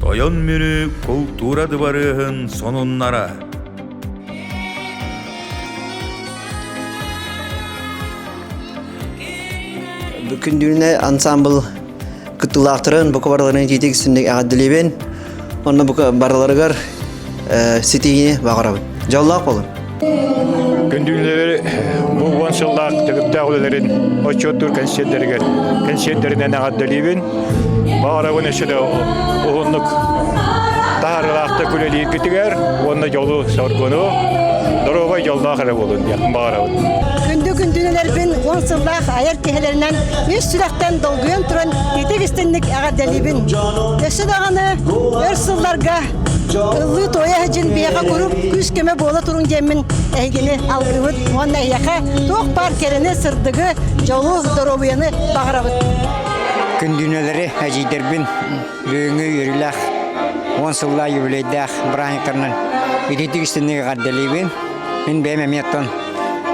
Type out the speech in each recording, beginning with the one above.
Тойон Мүрү култуура дыбарыаһын сонуннара Күндүлүнэ ансамбл кыттылаахтарын, бука барыларын тиитик сүннүк эҕэрдэлибин. Онно бука барыларыгар ситиһиини баҕарабын. Дьоллоох болун. Күндүлэри бу уон сыллаах төгүрдээх үлэлэрин отчуоттуур кэнсиэрдэригэр кэнсиэрдэринэн эҕэрдэлиибин. Баҕарабын өссө да уһуннук таһаарылаахтык үлэлииргитигэр уонна дьолу, соргуну, доруобай дьоллоох эрэ буолун диэн баҕарабын. Күндү күндүлэрбин уон сыллаах айар киһилэринэн үс сүрэхтэн долгуйан туран итик истинник эҕэрдэлиибин. Өссө даҕаны өр сылларга Ыллыы туойа сылдьын биэҕэ куруук күүс-көмө буола туруҥ диэммин эһигини алгыбыт уонна эһиэхэ туох баар кэрэни, сырдыгы, дьолу, доруобуйаны баҕарабыт. Күндүнэлэри эдьиийдэрбин бүгүҥҥү үөрүүлээх уон сыллаа юбилейдээх бырааһынньыктарынан итинтик истинник эҕэрдэлиибин. Мин бэйэм эмиэ оттон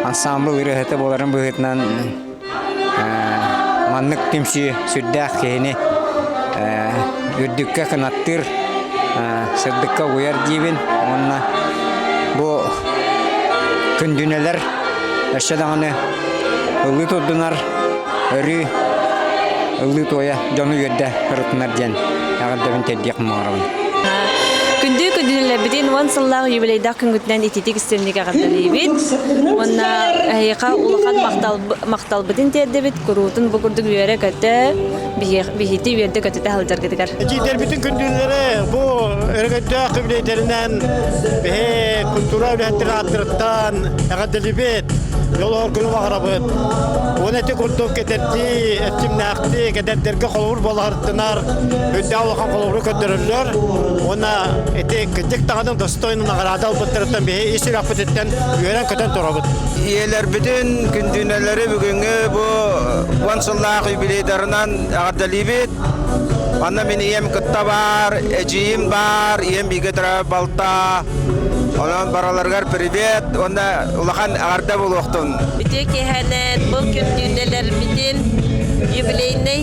ансаамбыл ырыаһыта буоларым быһыытынан Маннык түмсүү сүрдээх киһини үрдүккэ кынаттыыр, сырдыкка угуйар диибин уонна бу күндүнэлэр өссө даҕаны ылыы турдунар, өрүү ылыы туойа дьону үөрдэ ырытынар диэн эҕэрдэбин тиэрдиэх муҥарабын. Күндү күндүнэлэрбитин уон сыллаах юбилейдаах күҥҥүтүнэн ититик истинник эҕэрдэлиибит уонна эһиэхэ улахан махталбытын тиэрдэбит куруутун бу курдук үөрэ-көтө биһити үөрдэ-көтүтэ сылдьаргытыгар итиитэрбитин күндүллэри бу өрөгөйдөөх үбүлэйдэринэн биһи культура үлэһиттэр ааттырыттан эҕэрдэлибит жолоор күнү баҕарабыт уон эти курдук кэтэрдии эттимнээхтии кэдэрдэргэ холобур болаһыртынар үрдээх улахан холобуру көрдөрөллөр уонна ити кырдьык даҕаны стройну наҕараада ылбыттарыттан биһи ис сүрэхпититтэн үөрэн-көтөн турабыт. Ийэлэрбитин күндүнэлэри бүгүҥҥү бу уон сыллаах юбилейдарынан эҕэрдэлиибит. Манна мин ийэм кытта баар, эдьиийим баар, ийэм бииргэ турар балта. Онон бараларыгар привет уонна улахан эҕэрдэ булуохтун. Үтүө киэһэнэн бұл күндүнэлэрбитин юбилейнай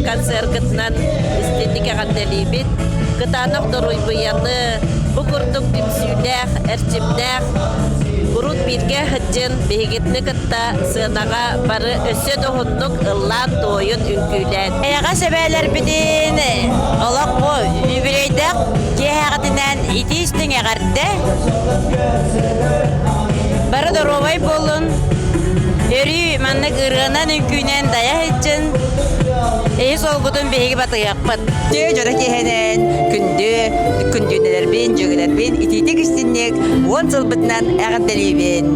концергытынан истинник эҕэрдэлиибит. Кытаанах доруйбуйаны, бу курдук түмсүүлээх, эрчимнээх урут бииргэ сылдьын биһигитини кытта сыанаҕа бары өссө да уһуннук ыллаан-туойун үҥкүүлээн. Эйэҕэс эбээлэрбитин олох бу үбүлэйдэх киэһэҕитинэн итии истиҥ эҕэрдэ. Бары доруобай буолун. Өрүү маннык ырыанан үҥкүүнэн дайа сылгытын биһиги батыйах. дьоро киэһэнэн күндү күндүөнэлэрбин дьүөгэлэрбин итиитик истинник уон сылбытынан эҕэрдэлиибин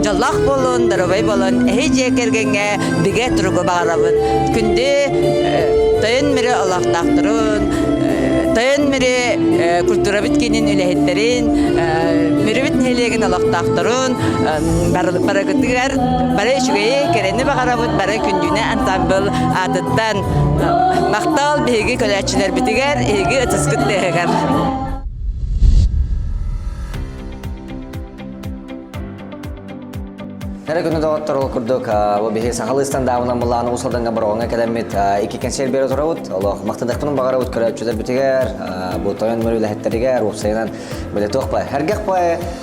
дьоллоох буолун доруобай буолун эһи дьиэ кэргэҥҥэ бигэ туругу баҕарабын күндү тойон мүрү олохтоохторун тойон мүрү культурабыт киинин үлэһиттэрин мүрүбүт нэһилиэгин олохтоохторун барыгытыгар бары үчүгэйи кэрэни баҕарабыт бары күндүнэ ансамбыл аатыттан Махтал биһиги көлөөччүлэрбитигэр, биһиги ытыскыт тыаһыгар. Эрэ күнү доҕоттор ол курдук бу биһи сахалыы стандарбынан былаан Уус Алдаҥҥа Бороҕоҥҥо кэлэммит икки кэнсиэр бере турабыт. Олох махтадахпын барабыт көрөөччүлэрбитигэр, бу тойон нөмөр үлэһиттэригэр, уопсайынан биле туох бай,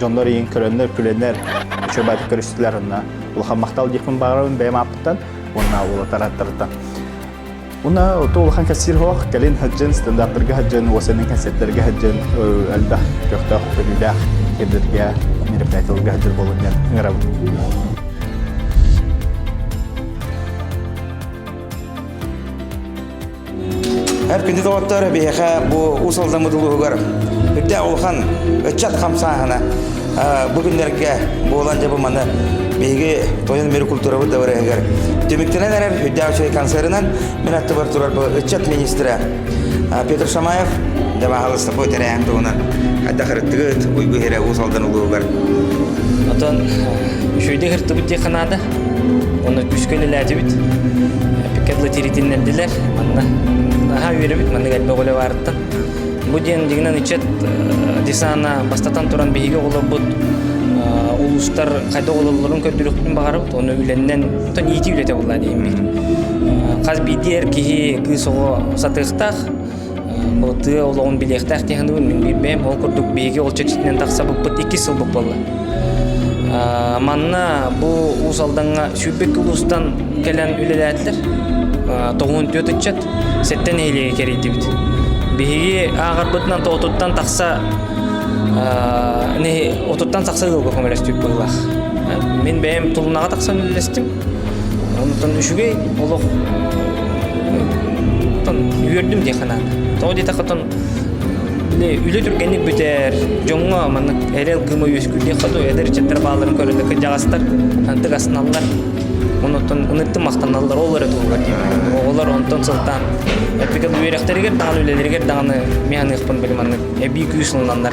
дьоннор иин көрөннөр, күлэннэр, чөбөөтүк көрүстүлэр онна улахан махтал диэхпин баарабын бэйэм ааппыттан уонна улатараттарыттан. Уна ото улахан кассир хоох кэлин хаджын стандарттарга хаджын уосенин концерттэрге хаджын элбэх көхтөөх көрүүлээх ирдэргэ мероприятияларга хаджыр болун диэн ыҥырабын Эр күндү доҕоттор, биһиэхэ бу Уус Алдаммыт улууһугар үрдээх улахан ыччат хамсааһына бу күннэргэ буолан дьабы маны биһиги тойон мир культурабыт дабарыһыгар түмүктэнэн эрэр үрдээх үчүгэй концерынан мин аттыбар турар бу ыччат министрэ Петр Шамаев дабаахалыста по тэрээһин туһунан хайдахарыттыгыт уйгу хире Уус Алдан улууһугар Отон үшүйде хыртыбыт диэ ханаада Уонна күүскэ үлэлээтибит. Пикет латиритиннэрдилэр. Манна наһаа үөрэбит маннык элбэх үлэ баарыттан. Бу диэн дигинэн ычет э, десана бастатан туран биһиги оҕолорбут э, улуустар хайда оҕолорун көрдөрүөхпүтүн баҕарабыт. Оны үлэннэн оттон иити үлэтэ булла диэн биир. Э, хас биирдии эр киһи кыыс оҕо сатыахтаах. тыа олоҕун билиэхтээх дии мин билбэм ол курдук биһиги ол чэрчитинэн тахсабыппыт иккис сылбыт буолла манна бу уус алдаҥҥа сүүрбэкки улуустан кэлэн үлэлээтилэр тоҕуун түөрт ыччат сэттэн нэһилиэгэ кэрийдибит биһиги ааҕарбытынан отуттан тахса отуттан тахса ыалга көмөлөспүт быһыылаах мин бэйэм тулунаҕа тахсан үлэлэстим Онтон үчүгэй олох туттан үөрдүм дии санаан. Тоҕо диэтэххэ оттон үлэ түргэнник бүтэр, дьоҥҥо маннык эрэл кыыма үөскүүллүөххэ дуо, эдэр ыччаттар бааларын көрөргө кырдьаҕастар антык астыналлар. Онон ыныртым махтаналлар ол эрэ туһугар диэбитим. Оҕолор онтон сылтаан практикал үөрэхтэригэр даҕаны, үлэлэригэр даҕаны механыахпын били маннык эбии күүс ылыналлар.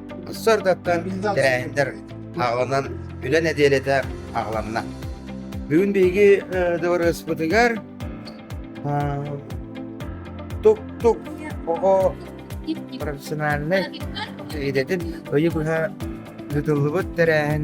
Сордаттан тэрээһинтэр аҕынан үлэ нэдиэлэтэ аҕаланна. Бүгүн биһиги дыбарыаспытыгар тук-тук оҕо профессиональнай идэтин өйү быһа ыытыллыбыт тэрээһин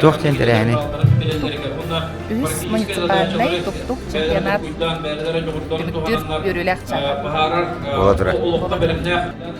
Туох диэн тэрээһини? Үһүс муниципальнай тустуук чемпионат түмүктүүр үөрүүлэх чааһа. Болатыра.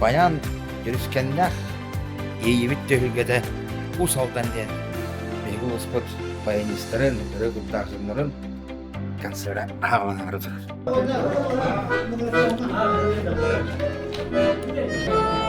Баян Дьүрүскэннээх иэйиибит түһүлгэтэ Уус Алдан диэн биһиги улууспут баянистарын, өрө куттаах дьоннорун концерта ааҕынары Thank you.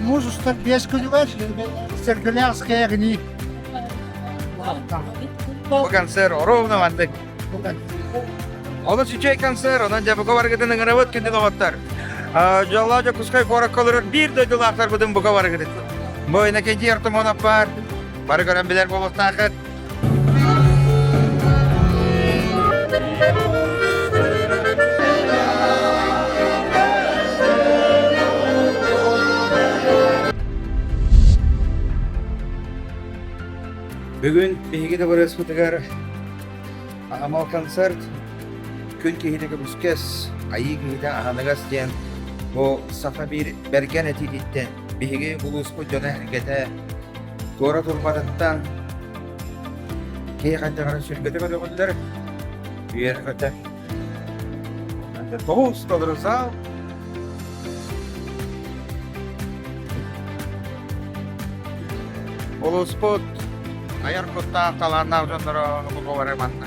Муж устар биэс күнүгэр Сергелянская огни. Бу концерт ровно маннык. Олус үчүгэй концерт, онон дьабыга баргытын ыҥырабыт күндүк оҕоттор. Дьоллоох Дьокуускай куораккаларыт биир дойдулаахтарбытын бука барыгытын. Бу Иннокентий Артамонов бар. Бары көрөн билэр буолуохтааххыт. Бүгүн биһиги табырыаспытыгар анамал концерт күн киһитэ көбүскэс айыы киһитэ аһыныгас диэн бу саха биир бэргэн этиититтэн Биһиги улууспут дьоно-сэргэтэ куорат урбатыттан киһи хайдахара сүргэтэ көрөҕүллэр, үөрҕэтэ. Тоҕус толору саал улууспут айар куттаах талааннаах дьонноро бу бары манна